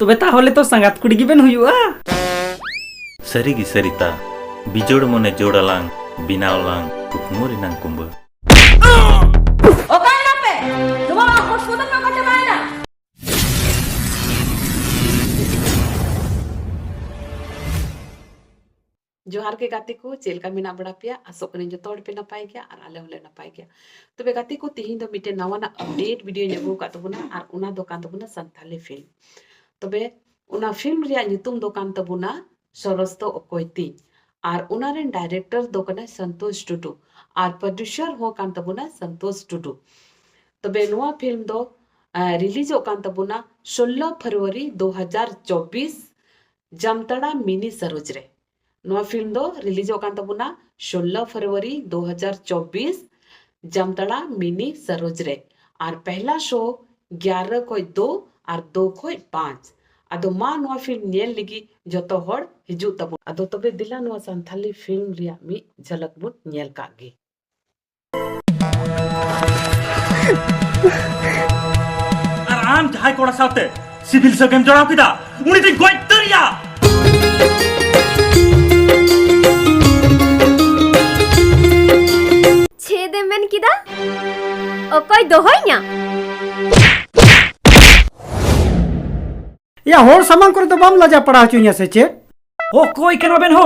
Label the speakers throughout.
Speaker 1: ᱛᱚᱵᱮ ᱛᱟᱦᱚᱞᱮ ᱛᱚ ᱥᱟᱸᱜᱟᱛ ᱠᱩᱲᱤ ᱜᱮᱵᱮᱱ ᱦᱩᱭᱩᱜᱼᱟ ᱥᱟᱹᱨᱤ ᱜᱮ ᱥᱟᱹᱨᱤᱛᱟ ᱵᱤᱡᱚᱲ ᱢᱚᱱᱮ ᱡᱳᱲ ᱟᱞᱟᱝ ᱵᱮᱱᱟᱣ ᱞᱟᱝ ᱠᱩᱠᱢᱩ ᱨᱮᱱᱟᱝ ᱠᱩᱢᱵᱟᱹ ᱡᱚᱦᱟᱨ ᱜᱮ ᱜᱟᱛᱮ ᱠᱚ ᱪᱮᱫ ᱞᱮᱠᱟ ᱢᱮᱱᱟᱜ ᱵᱟᱲᱟ ᱯᱮᱭᱟ ᱟᱥᱚᱜ ᱠᱟᱹᱱᱟᱹᱧ ᱡᱚᱛᱚ ᱦᱚᱲ ᱯᱮ ᱱᱟᱯᱟᱭ ᱜᱮᱭᱟ ᱟᱨ ᱟᱞᱮ ᱦᱚᱸᱞᱮ ᱱᱟᱯᱟᱭ ᱜᱮᱭᱟ ᱛᱚᱵᱮ ᱜᱟᱛᱮ ᱠᱚ ᱛᱤᱦᱤᱧ ᱫᱚ ᱢᱤᱫᱴᱮᱱ ᱱᱟᱣᱟᱱᱟᱜ ᱟᱯᱰᱮᱴ ᱵᱷᱤᱰᱤᱭᱳᱧ ᱟᱹᱜᱩ ᱟᱠᱟᱫ ᱛᱟᱵᱚᱱᱟ ᱟᱨ ᱚᱱᱟ ᱫᱚ ᱠᱟᱱ ᱛᱟᱵᱚᱱᱟ ᱥᱟᱱᱛᱟᱞᱤ ᱯᱷᱤᱞᱢ ᱛᱚᱵᱮ ᱚᱱᱟ ᱯᱷᱤᱞᱢ ᱨᱮᱭᱟᱜ ᱧᱩᱛᱩᱢ ᱫᱚ ᱠᱟᱱ ᱛᱟᱵᱚᱱᱟ ᱥᱚᱨᱚᱥ ᱫᱚ ᱚᱠᱚᱭ ᱛᱤᱧ ᱟᱨ ᱚᱱᱟ ᱨᱮᱱ ᱰᱟᱭᱨᱮᱠᱴᱚᱨ ᱫᱚ ᱠᱟᱱᱟᱭ ᱥᱚᱱᱛᱳᱥ ᱴᱩᱰᱩ ᱟᱨ ᱯᱨᱚᱰᱭᱩᱥᱟᱨ ᱦᱚᱸ ᱠᱟᱱ ᱛᱟᱵᱚᱱᱟ ᱥᱚᱱᱛᱳᱥ ᱴᱩᱰᱩ ᱛᱚᱵᱮ ᱱᱚᱣᱟ ᱯᱷᱤᱞᱢ ᱫᱚ ᱨᱤᱞᱤᱡᱚᱜ ᱠᱟᱱ ᱛᱟᱵᱚᱱᱟ ᱥᱳᱞᱞᱳ ᱯᱷᱮᱵᱽᱨᱩᱣᱟᱨᱤ ᱫᱩ ᱦᱟᱡᱟᱨ ᱪᱚᱵᱽᱵᱤᱥ ᱡᱟᱢᱛᱟᱲᱟ ᱢᱤᱱᱤ ᱥᱟᱨᱳᱡᱽ ᱨᱮ ᱱᱚᱣᱟ ᱯᱷᱤᱞᱢ ᱫᱚ ᱨᱤᱞᱤᱡᱚᱜ ᱠᱟᱱ ᱛᱟᱵᱚᱱᱟ ᱥᱳᱞᱞᱳ ᱯᱷᱮᱵᱽᱨᱩᱣᱟᱨᱤ ᱫᱩ ᱦᱟᱡᱟᱨ ᱪᱚᱵᱽᱵᱤᱥ ᱡᱟᱢᱛᱟᱲᱟ ᱢᱤᱱᱤ ᱥᱟᱨᱳᱡᱽ ᱨᱮ ᱟᱨ ᱯᱮᱦᱞᱟ ᱥᱳ ᱜᱭᱟᱨᱟ ᱠᱷᱚᱡ ᱫᱳ ᱟᱨ ᱫᱳ ᱠᱷᱚᱡ ᱯᱟᱸᱪ ᱟᱫᱚ ᱢᱟ ᱱᱚᱣᱟ ᱯᱷᱤᱞᱢ ᱧᱮᱞ ᱞᱟᱹᱜᱤᱫ ᱡᱚᱛᱚ ᱦᱚᱲ ᱦᱤᱡᱩᱜ ᱛᱟᱵᱚᱱ ᱟᱫᱚ ᱛᱚᱵᱮ ᱫᱮᱞᱟ ᱱᱚᱣᱟ ᱥᱟᱱᱛᱷᱟᱞᱤ ᱯᱷᱤᱞᱢ ᱨᱮᱭᱟᱜ ᱢᱤᱫ ᱡᱷᱟᱞᱟᱠ ᱵᱚᱱ ᱧᱮᱞ ᱠᱟᱜ ᱜᱮ ᱟᱨ ᱟᱢ ᱡᱟᱦᱟᱸᱭ ᱠᱚᱲᱟ ᱥᱟᱶᱛᱮ ᱥᱤᱵᱤᱞ ᱥᱟᱹᱜᱟᱹᱭᱮᱢ ᱡᱚᱲᱟᱣ ᱠᱮᱫᱟ ᱩᱱᱤ ᱫᱚᱧ ᱜᱚᱡ ᱩᱛᱟᱹᱨᱮᱭᱟ ᱪᱮᱫ ᱮᱢ ᱢᱮᱱ ᱠᱮᱫᱟ ᱚᱠᱚᱭ ᱫᱚᱦᱚᱭᱧᱟ ᱭᱟ ᱦᱚᱲ ᱥᱟᱢᱟᱝ ᱠᱚᱨᱮ ᱫᱚ ᱵᱟᱢ ᱞᱟᱡᱟ ᱯᱟᱲᱟ ᱦᱚᱪᱚᱧᱟ ᱥᱮ ᱪᱮᱫ ᱚᱠᱚᱭ ᱠᱟᱱᱟ ᱵᱮᱱ ᱦᱳ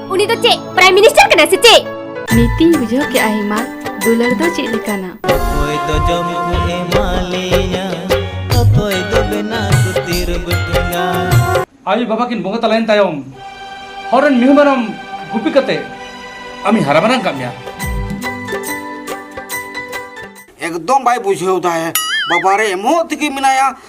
Speaker 1: ᱩᱱᱤ ᱫᱚ ᱪᱮᱫ ᱯᱨᱟᱭᱤᱢ ᱢᱤᱱᱤᱥᱴᱟᱨ ᱠᱟᱱᱟ ᱥᱮ ᱪᱮᱫ ᱱᱤᱛᱤᱧ ᱵᱩᱡᱷᱟᱹᱣ ᱠᱮᱜᱼᱟ ᱦᱮᱢᱟ ᱫᱩᱞᱟᱹᱲ ᱫᱚ ᱪᱮᱫ ᱞᱮᱠᱟᱱᱟ ᱚᱠᱚᱭ ᱫᱚ ᱡᱚᱢ ᱠᱚ ᱮᱢᱟ ᱞᱮᱭᱟ ᱚᱠᱚᱭ ᱫᱚ ᱵᱮᱱᱟ ᱥᱩᱛᱤᱨ ᱵᱴᱤᱝᱟ ᱟᱭᱳ ᱵᱟᱵᱟ ᱠᱤᱱ ᱵᱚᱸᱜᱟ ᱛᱟᱞᱟᱭᱮᱱ ᱛᱟᱭᱚᱢ ᱦᱚᱲ ᱨᱮᱱ ᱢᱤᱦᱩ ᱢᱮᱨᱚᱢ ᱜᱩᱯᱤ ᱠᱟᱛᱮ ᱟᱢᱤ ᱦᱟᱨᱟ ᱢᱟᱨᱟᱝ ᱠᱟᱜ ᱢᱮᱭᱟ ᱮᱠᱫᱚᱢ ᱵᱟᱭ ᱵᱩᱡᱷᱟᱹᱣ ᱫᱟᱭ ᱵᱟᱵᱟᱨᱮ ᱮᱢᱚᱜ ᱛᱮᱜᱮ ᱢᱮᱱᱟᱭᱟ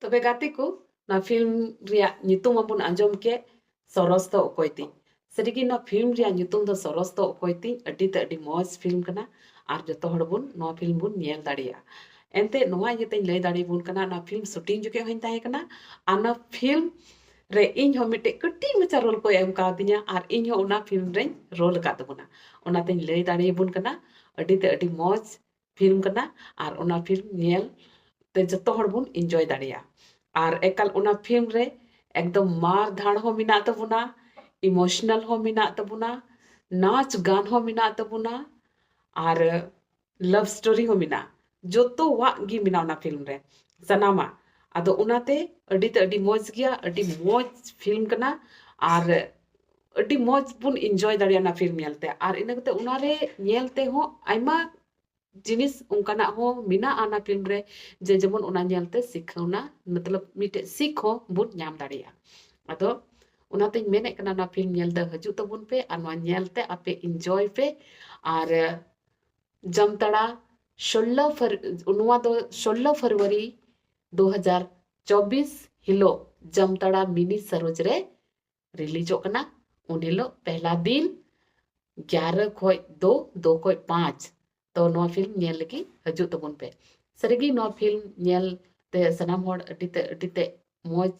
Speaker 1: ᱛᱚᱵᱮ ᱜᱟᱛᱮ ᱠᱚ ᱱᱚᱣᱟ ᱯᱷᱤᱞᱢ ᱨᱮᱭᱟᱜ ᱧᱩᱛᱩᱢ ᱢᱟᱵᱚᱱ ᱟᱸᱡᱚᱢ ᱠᱮᱫ ᱥᱚᱨᱚᱥ ᱫᱚ ᱚᱠᱚᱭ ᱛᱤᱧ ᱥᱟᱹᱨᱤᱜᱮ ᱱᱚᱣᱟ ᱯᱷᱤᱞᱢ ᱨᱮᱭᱟᱜ ᱧᱩᱛᱩᱢ ᱫᱚ ᱥᱚᱨᱚᱥ ᱫᱚ ᱚᱠᱚᱭ ᱛᱤᱧ ᱟᱹᱰᱤ ᱛᱮ ᱟᱹᱰᱤ ᱢᱚᱡᱽ ᱯᱷᱤᱞᱢ ᱠᱟᱱᱟ ᱟᱨ ᱡᱚᱛᱚ ᱦᱚᱲ ᱵᱚᱱ ᱱᱚᱣᱟ ᱯᱷᱤᱞᱢ ᱵᱚᱱ ᱧᱮᱞ ᱫᱟᱲᱮᱭᱟᱜᱼᱟ ᱮᱱᱛᱮ ᱱᱚᱣᱟ ᱤᱭᱟᱹᱛᱮᱧ ᱞᱟᱹᱭ ᱫᱟᱲᱮᱭᱟᱵᱚᱱ ᱠᱟᱱᱟ ᱱᱚᱣᱟ ᱯᱷᱤᱞᱢ ᱥᱩᱴᱤᱝ ᱡᱚᱠᱷᱮᱡ ᱦᱚᱧ ᱛᱟᱦᱮᱸ ᱠᱟᱱᱟ ᱟᱨ ᱱᱚᱣᱟ ᱯᱷᱤᱞᱢ ᱨᱮ ᱤᱧ ᱦᱚᱸ ᱢᱤᱫᱴᱮᱡ ᱠᱟᱹᱴᱤᱡ ᱢᱟᱪᱷᱟ ᱨᱳᱞ ᱠᱚ ᱮᱢ ᱠᱟᱣᱫᱤᱧᱟ ᱟᱨ ᱤᱧ ᱦᱚᱸ ᱚᱱᱟ ᱯᱷᱤᱞᱢ ᱨᱮᱧ ᱨᱳᱞ ᱟᱠᱟᱫ ᱛᱟᱵᱚᱱᱟ ᱚᱱᱟᱛᱮᱧ ᱞᱟᱹᱭ ᱫᱟᱲᱮᱭᱟᱵᱚᱱ ᱠᱟᱱᱟ ᱟᱹᱰᱤ ᱛᱮ ᱟᱹᱰᱤ ᱢᱚᱡᱽ ᱯᱷᱤᱞᱢ ᱠᱟᱱᱟ ᱟᱨ ᱚᱱᱟ ᱯᱷᱤᱞᱢ ᱧᱮᱞ ᱛᱮ ᱡᱚᱛᱚ ᱦᱚᱲ ᱵᱚᱱ ᱤᱱᱡᱚᱭ ᱫᱟᱲᱮᱭᱟᱜᱼᱟ ᱟᱨ ᱮᱠᱟᱞ ᱚᱱᱟ ᱯᱷᱤᱞᱢ ᱨᱮ ᱮᱠᱫᱚᱢ ᱢᱟᱨ ᱫᱷᱟᱲ ᱦᱚᱸ ᱢᱮᱱᱟᱜ ᱛᱟᱵᱚᱱᱟ ᱤᱢᱳᱥᱚᱱᱟᱞ ᱦᱚᱸ ᱢᱮᱱᱟᱜ ᱛᱟᱵᱚᱱᱟ ᱱᱟᱪ ᱜᱟᱱ ᱦᱚᱸ ᱢᱮᱱᱟᱜ ᱛᱟᱵᱚᱱᱟ ᱟᱨ ᱞᱟᱵᱷ ᱥᱴᱳᱨᱤ ᱦᱚᱸ ᱢᱮᱱᱟᱜᱼᱟ ᱡᱚᱛᱚᱣᱟᱜ ᱜᱮ ᱢᱮᱱᱟᱜᱼᱟ ᱚᱱᱟ ᱯᱷᱤᱞᱢ ᱨᱮ ᱥᱟᱱᱟᱢᱟᱜ ᱟᱫᱚ ᱚᱱᱟᱛᱮ ᱟᱹᱰᱤ ᱛᱮ ᱟᱹᱰᱤ ᱢᱚᱡᱽ ᱜᱮᱭᱟ ᱟᱹᱰᱤ ᱢᱚᱡᱽ ᱯᱷᱤᱞᱢ ᱠᱟᱱᱟ ᱟᱨ ᱟᱹᱰᱤ ᱢᱚᱡᱽ ᱵᱚᱱ ᱤᱱᱡᱚᱭ ᱫᱟᱲᱮᱭᱟᱜᱼᱟ ᱚᱱᱟ ᱯᱷᱤᱞᱢ ᱧᱮᱞᱛᱮ ᱟᱨ ᱤᱱᱟᱹ ᱠᱟᱛᱮ ᱚᱱᱟᱨᱮ ᱧᱮᱞ ᱛᱮᱦᱚᱸ ᱟᱭᱢᱟ ᱡᱤᱱᱤᱥ ᱚᱱᱠᱟᱱᱟᱜ ᱦᱚᱸ ᱢᱮᱱᱟᱜᱼᱟ ᱚᱱᱟ ᱯᱷᱤᱞᱢ ᱨᱮ ᱡᱮ ᱡᱮᱢᱚᱱ ᱚᱱᱟ ᱧᱮᱞᱛᱮ ᱥᱤᱠᱷᱟᱹᱣᱱᱟ ᱢᱚᱛᱞᱚᱵ ᱢᱤᱫᱴᱮᱡ ᱥᱤᱠᱷ ᱦᱚᱸ ᱵᱚᱱ ᱧᱟᱢ ᱫᱟᱲᱮᱭᱟᱜᱼᱟ ᱟᱫᱚ ᱚᱱᱟᱛᱮᱧ ᱢᱮᱱᱮᱫ ᱠᱟᱱᱟ ᱚᱱᱟ ᱯᱷᱤᱞᱢ ᱧᱮᱞ ᱫᱚ ᱦᱤᱡᱩᱜ ᱛᱟᱵᱚᱱ ᱯᱮ ᱟᱨ ᱱᱚᱣᱟ ᱧᱮᱞᱛᱮ ᱟᱯᱮ ᱤᱱᱡᱚᱭ ᱯᱮ ᱟᱨ ᱡᱟᱢᱛᱟᱲᱟ ᱥᱳᱞᱞᱳ ᱯᱷᱟᱨ ᱱᱚᱣᱟ ᱫᱚ ᱥᱳᱞᱞᱳ ᱯᱷᱮᱵᱽᱨᱩᱣᱟᱨᱤ ᱫᱩ ᱦᱟᱡᱟᱨ ᱪᱚᱵᱵᱤᱥ ᱦᱤᱞᱳᱜ ᱡᱟᱢᱛᱟᱲᱟ ᱢᱤᱱᱤ ᱥᱟᱨᱳᱡᱽ ᱨᱮ ᱨᱤᱞᱤᱡᱚᱜ ᱠᱟᱱᱟ ᱩᱱ ᱦᱤᱞᱳᱜ ᱯᱮᱦᱞᱟ ᱫᱤᱱ ᱜᱭᱟᱨᱟ ᱠᱷᱚᱡ ᱫᱚ ᱫᱚ ᱠᱷᱚᱡ ᱯᱟᱸᱪ ᱛᱚ ᱱᱚᱣᱟ ᱯᱷᱤᱞᱢ ᱧᱮᱞ ᱞᱟᱹᱜᱤᱫ ᱦᱤᱡᱩᱜ ᱛᱟᱵᱚᱱ ᱯᱮ ᱥᱟᱹᱨᱤᱜᱮ ᱱᱚᱣᱟ ᱯᱷᱤᱞᱢ ᱧᱮᱞ ᱛᱮ ᱥᱟᱱᱟᱢ ᱦᱚᱲ ᱟᱹᱰᱤ ᱛᱮ ᱟᱹᱰᱤ ᱛᱮ ᱢᱚᱡᱽ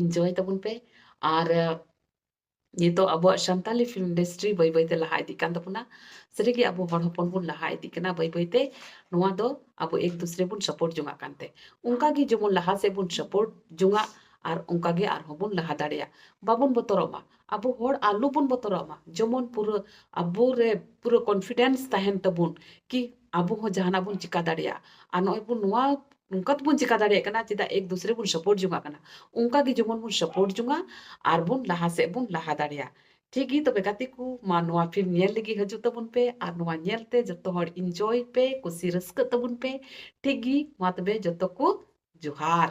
Speaker 1: ᱤᱱᱡᱚᱭ ᱛᱟᱵᱚᱱ ᱯᱮ ᱟᱨ ᱱᱤᱛᱚᱜ ᱟᱵᱚᱣᱟᱜ ᱥᱟᱱᱛᱟᱞᱤ ᱯᱷᱤᱞᱢ ᱤᱱᱰᱟᱥᱴᱨᱤ ᱵᱟᱹᱭ ᱵᱟᱹᱭᱛᱮ ᱞᱟᱦᱟ ᱤᱫᱤᱜ ᱠᱟᱱ ᱛᱟᱵᱚᱱᱟ ᱥᱟᱹᱨᱤᱜᱮ ᱟᱵᱚ ᱦᱚᱲ ᱦᱚᱯᱚᱱ ᱵᱚᱱ ᱞᱟᱦᱟ ᱤᱫᱤᱜ ᱠᱟᱱᱟ ᱵᱟᱹᱭ ᱵᱟᱹᱭᱛᱮ ᱱᱚᱣᱟ ᱫᱚ ᱟᱵᱚ ᱮᱠ ᱫᱩᱥᱨᱮ ᱵᱚᱱ ᱥᱟᱯᱳᱨᱴ ᱡᱚᱝᱟᱜ ᱠᱟᱱᱛᱮ ᱚᱱᱠᱟᱜᱮ ᱡᱮᱢᱚᱱ ᱞᱟᱦᱟ ᱥᱮᱫ ᱵᱚᱱ ᱥᱟᱯᱳᱨᱴ ᱡᱚᱝᱟᱜ ᱟᱨ ᱚᱱᱠᱟ ᱜᱮ ᱟᱨᱦᱚᱸ ᱵᱚᱱ ᱞᱟᱦᱟ ᱫᱟᱲᱮᱭᱟᱜ ᱵᱟᱵᱚᱱ ᱵᱚᱛᱚᱨᱚᱜ ᱢᱟ ᱟᱵᱚ ᱦᱚᱲ ᱟᱞᱚ ᱵᱚᱱ ᱵᱚᱛᱚᱨᱚᱜ ᱢᱟ ᱡᱮᱢᱚᱱ ᱯᱩᱨᱟᱹ ᱟᱵᱚ ᱨᱮ ᱯᱩᱨᱟᱹ ᱠᱚᱱᱯᱷᱤᱰᱮᱱᱥ ᱛᱟᱦᱮᱱ ᱛᱟᱵᱚᱱ ᱠᱤ ᱟᱵᱚ ᱦᱚᱸ ᱡᱟᱦᱟᱱᱟᱜ ᱵᱚᱱ ᱪᱤᱠᱟᱹ ᱫᱟᱲᱮᱭᱟᱜᱼᱟ ᱟᱨ ᱱᱚᱜᱼᱚᱭ ᱵᱚᱱ ᱱᱚᱣᱟ ᱱᱚᱝᱠᱟ ᱛᱮᱵᱚᱱ ᱪᱤᱠᱟᱹ ᱫᱟᱲᱮᱭᱟᱜ ᱠᱟᱱᱟ ᱪᱮᱫᱟᱜ ᱮᱠ ᱫᱩᱥᱨᱮ ᱵᱚᱱ ᱥᱟᱯᱳᱨᱴ ᱡᱚᱱᱟᱜ ᱠᱟᱱᱟ ᱚᱱᱠᱟ ᱜᱮ ᱡᱮᱢᱚᱱ ᱵᱚᱱ ᱥᱟᱯᱳᱨᱴ ᱡᱚᱱᱟᱜ ᱟᱨ ᱵᱚᱱ ᱞᱟᱦᱟ ᱥᱮᱫ ᱵᱚᱱ ᱞᱟᱦᱟ ᱫᱟᱲᱮᱭᱟᱜ ᱴᱷᱤᱠ ᱜᱮ ᱛᱚᱵᱮ ᱜᱟᱛᱮ ᱠᱚ ᱢᱟ ᱱᱚᱣᱟ ᱯᱷᱤᱞᱢ ᱧᱮᱞ ᱞᱟᱹᱜᱤᱫ ᱦᱤᱡᱩᱜ ᱛᱟᱵᱚᱱ ᱯᱮ ᱟᱨ ᱱᱚᱣᱟ ᱧᱮᱞ ᱛᱮ ᱡᱚᱛᱚ ᱦᱚᱲ ᱤᱱᱡᱚᱭ ᱯᱮ ᱠᱩᱥᱤ ᱨᱟᱹᱥᱠᱟᱹᱜ ᱛᱟᱵᱚᱱ ᱯᱮ ᱴᱷᱤᱠ ᱜᱮ ᱢᱟ ᱛᱚᱵᱮ ᱡᱚᱛᱚ ᱠᱚ ᱡᱚᱦᱟᱨ